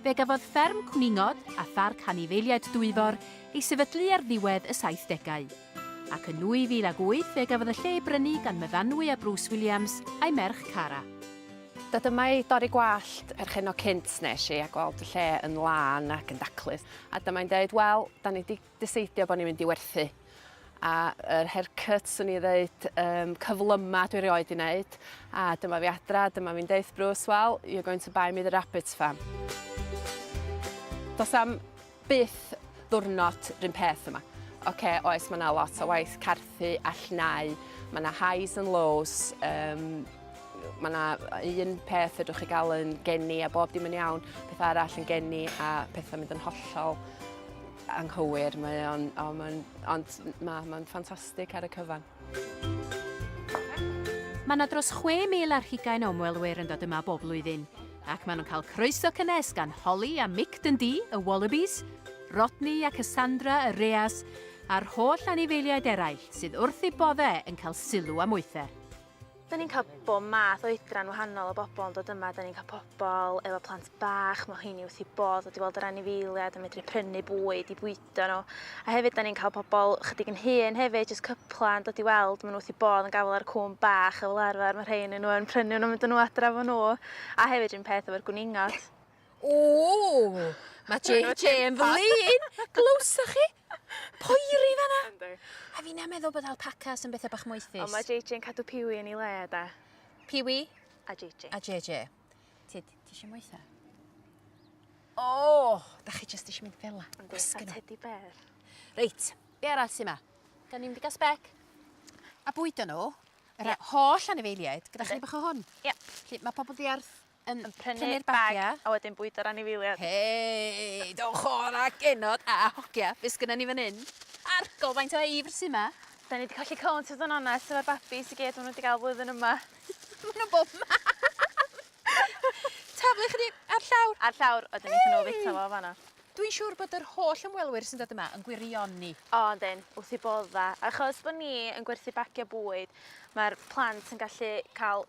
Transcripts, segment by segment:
Fe gafodd Fferm Cwningod a Pharc Anifeiliaid Dwyfor ei sefydlu ar ddiwedd y saithdegau, ac yn 2008 fe gafodd y lle ei brynu gan Myfanwy a Bruce Williams a'i merch Cara. Do, dyma i dorri gwallt perchennog cynt nes i a gweld y lle yn lân ac yn daclus. A dyma i'n deud, wel, 'dan ni 'di diseidio bo ni'n mynd i werthu a yr hair cut swn i ddeud um, cyflyma dwi rioed i wneud a dyma fi adra dyma fi'n deith Bruce well you're going to buy me the rabbit farm Dos am byth ddwrnod rhywun peth yma okay, oes mae yna lot o waith carthu a llnau mae yna highs and lows um, mae yna un peth ydwch chi gael yn geni a bob dim yn iawn, peth arall yn geni a pethau mynd yn hollol Anghywir, mae o'n, oh, mae'n, ond mae, mae'n ffantastig ar y cyfan. Mae yna dros 6,000 ar hugain o ymwelwyr yn dod yma bob blwyddyn, ac maen nhw'n cael croeso cynnes gan Holly a Mick Dundee, y Wallabies, Rodney a Cassandra, y Reas, a'r holl anifeiliaid eraill sydd wrth eu boddau yn cael sylw a moether. Da ni'n cael bob math oedran wahanol o bobl yn dod yma. Da ni'n cael pobl efo plant bach, mae hynny wrth i bod wedi weld yr anifeiliad yn medru prynu bwyd i bwydo nhw. A hefyd da ni'n cael pobl chydig yn hŷn hefyd, jyst cypla yn dod i weld, maen nhw wrth i bod yn gafel ar cwm bach a fel arfer mae rhai yn nhw yn prynu nhw, mynd nhw adra fo nhw. A hefyd rhywun peth efo'r gwningot. Ooh! Mae JJ yn flin! Glywsoch chi? Poeri fanna! Yndi. A fi'n meddwl bod alpacas yn bethau bach moethus. Ond mae JJ yn cadw piwi yn ei le, da. Piwi? A JJ. A JJ. Ti, ti eisiau moetha? O! Oh, da chi jyst eisiau mynd fel la. Yn gwisgo teddy bear. Reit, be arall sy'n ma? Da ni'n mynd i gael spec. A bwydo nhw, yr yeah. holl anifeiliaid, gyda yeah. chi bach o hwn. Ie. Yeah. Mae pobl ddiarth yn prynu'r bagia a wedyn bwydo'r anifeiliad. Hei! Dowch o'r a genod a hogia be sgynnon ni fan 'yn? Argol faint o eifr sy 'ma! 'Dan ni 'di colli count fod yn onest efo'r babis i gyd ma' n'w 'di ga'l flwyddyn yma. Ma' n'w bob man! Taflu ychydig ar llawr. Ar llawr a 'dyn nethon n'w fita fo fan 'na. Dwi'n siŵr bod yr holl ymwelwyr sy'n dod yma yn gwirioni. O yndyn, wrth 'u bodda'. Achos bo' ni yn gwerthu bagia bwyd ma'r plant yn gallu ca'l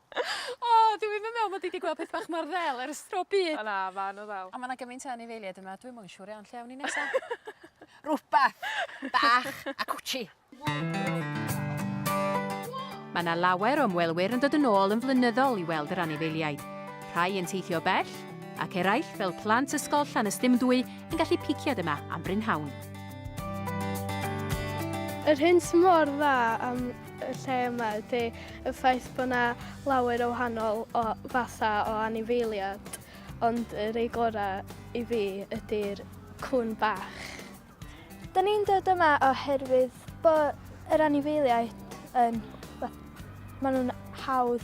O dwi ddim yn meddwl mod i 'di gweld peth bach mor ddel ers tro byd. O na ma' n'w ddel. On' ma' 'na gymaint o anifeiliaid yma dwi'm yn siŵr iawn lle awn ni nesa. Rwbath bach a cwtshi. Ma' 'na lawer o ymwelwyr yn dod yn ôl yn flynyddol i weld yr anifeiliaid. Rhai yn teithio bell, ac eraill, fel plant ysgol Llanystumdwy, yn gallu piciad yma am brynhawn. Yr hyn sy mor dda am y lle yma ydy y ffaith bod yna lawer o wahanol o fathau o anifeiliad, ond y rei gorau i fi ydy'r cwn bach. Da ni'n dod yma oherwydd bod yr anifeiliaid yn... maen nhw'n hawdd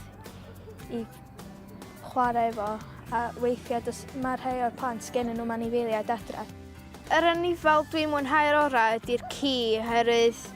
i chwarae efo a weithiau does, mae rhai o'r plant gen nhw'n anifeiliaid adre. Yr anifal dwi'n mwynhau'r orau ydy'r ci oherwydd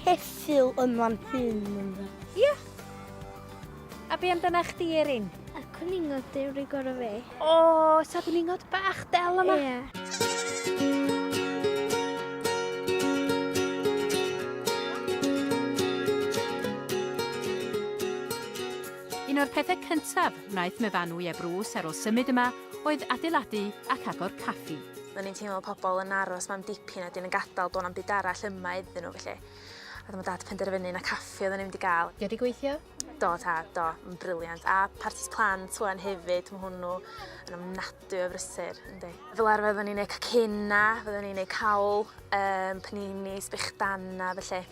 Ceffyl yn fan hyn ynddo. Ia! A be amdana chdi Erin? Y cwningod di wedi gorau fi. O, ta cwningod bach del yma? Ia. Un o'r pethau cyntaf wnaeth Mefanwy a Bruce ar ôl symud yma oedd adeiladu ac agor caffi. O'n i'n teimlo pobl yn aros mam dipyn a dyn yn gadal do' na'm byd arall yma iddyn nhw felly. A dyma dad penderfynu na caffi oedden ni'n mynd i gael. Di o di gweithio? Do tad, do, yn briliant. A partis plant wan hefyd, mae hwnnw yn ofnadwy o frysur, yndi. Fel arfer oedden ni'n neud cacenna, oedden ni'n neud cawl, um, panini, sbechdana, felly.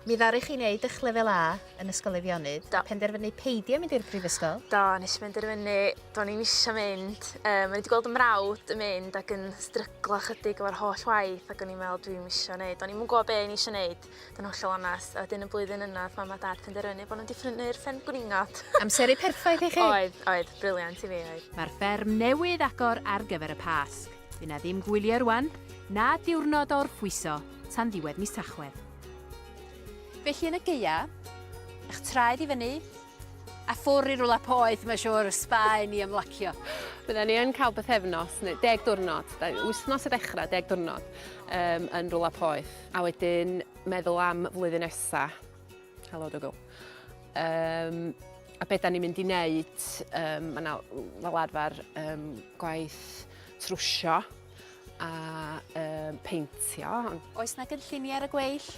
Mi ddaru chi wneud eich lefel A yn Ysgol Eifionydd. Do. Penderfynu peidio mynd i'r brifysgol. Do, nes i benderfynu, do'n i'n eisiau mynd. Um, o'n i wedi gweld y mrawd yn mynd ac yn stryglo chydig o'r holl waith ac o'n i'n meddwl dwi'n eisiau gwneud. Do'n i'n mwyn gwybod be o'n i eisiau gwneud, do'n hollol onest. A wedyn y blwyddyn yna, oedd mam a dad penderfynu bod nhw'n diffrynu'r ffen gwningot. Amseru perffaith i chi? Oedd, oedd, briliant i fi, oedd. Mae'r fferm newydd agor ar gyfer y Pasg. Fy na ddim gwylio rwan, na diwrnod o'r fwyso. tan ddiwedd mis Tachwedd. Felly yn y gaea, eich traed i fyny, a ffwr i rwla poeth, mae'n siŵr, y spa i ni ymlacio. Bydden ni yn cael bythefnos, neu deg diwrnod, wythnos y dechrau, deg diwrnod, um, yn rwla poeth. A wedyn meddwl am flwyddyn nesa. Helo, Dougal. Um, a beth da ni'n mynd i wneud, um, mae yna fel arfer um, gwaith trwsio. a um, peintio. Oes na gynlluniau ar y gweill?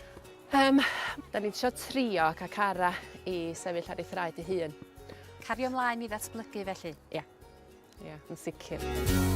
Um, da ni'n trio trio ac ac ara i sefyll ar ei thraed ei hun. Cario ymlaen i ddatblygu felly? Ie, yeah. ie, yeah, yn sicr.